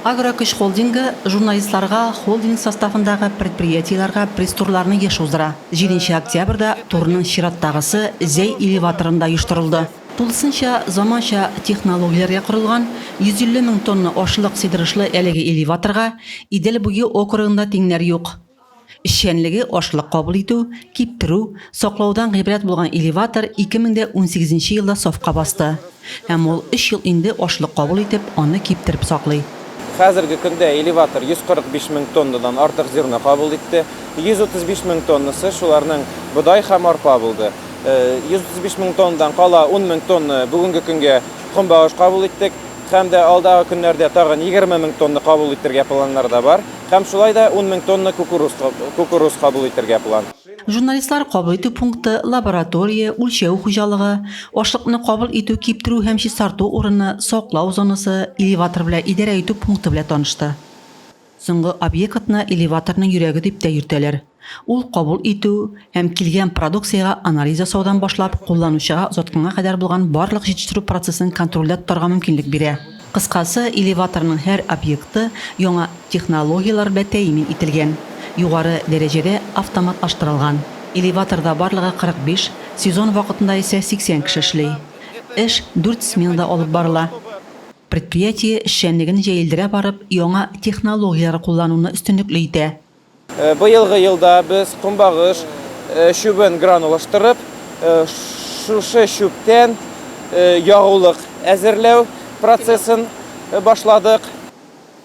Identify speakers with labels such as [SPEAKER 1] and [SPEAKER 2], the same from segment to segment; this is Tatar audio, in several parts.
[SPEAKER 1] Агрокөч холдингы журналистларга холдинг составындагы предприятиеләргә пресс-турларны еш уздыра. Җиденче октябрьдә турның чираттагысы Зәй элеваторында оештырылды. Тулысынча заманча технологияләргә корылган 150 мең тонна ашлык сыйдырышлы әлеге элеваторга Идел буе округында тиңнәр юк. Эшчәнлеге ашлык кабул итү, киптерү, саклаудан гыйбрәт булган элеватор 2018 елда сафка басты. Һәм ул өч ел инде ашлык кабул итеп, аны киптереп саклый. Хәзерге көндә
[SPEAKER 2] элеватор 145 мең тоннадан артык зерно кабул итте. 135 мең тоннасы, шуларның бодай һәм арпа булды. 135 мең тоннадан кала 10 мең тонна бүгенге көнгә көнбагыш кабул иттек. Һәм дә алдагы көннәрдә тагын 20 мең тонна кабул итәргә планнарда бар. Һәм шулай да ун мең тонна кукуруз кабул итәргә план. Журналистлар кабул
[SPEAKER 1] итү пункты, лаборатория, үлчәү хуҗалыгы, ашлыкны кабул итү, киптерү һәм чистарту урыны, саклау зонасы, элеватор белән идарә итү пункты белән танышты. Соңгы объектны элеваторның йөрәге дип тә йөртәләр. Ул кабул итү һәм килгән продукциягә анализ ясаудан башлап, кулланучыга озатканга кадәр булган барлык җитештерү процессын контрольдә тотарга мөмкинлек бирә. Кыскасы, элеваторның һәр объекты яңа технологияләр белән тәэмин ителгән, югары дәрәҗәдә автоматлаштырылган. Элеваторда барлыгы 45, сезон вакытында исә 80 кеше эшли. Эш дүрт сменада алып барыла. Предприятие эшчәнлеген җәелдерә барып, яңа технологияләр куллануны өстенлекле итә. Быелгы
[SPEAKER 2] елда без көнбагыш чүбен гранулаштырып, шушы чүптән ягулык әзерләү процессын башладык.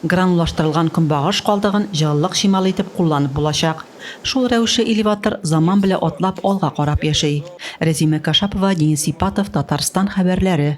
[SPEAKER 1] Гранулаштырылган көнбагыш калдыгын җылылык чималы итеп кулланып булачак. Шул рәвешле элеватор заман белә атлап алга карап яши. Рәзимә Кашапова, Денис Сипатов, Татарстан хәбәрләре.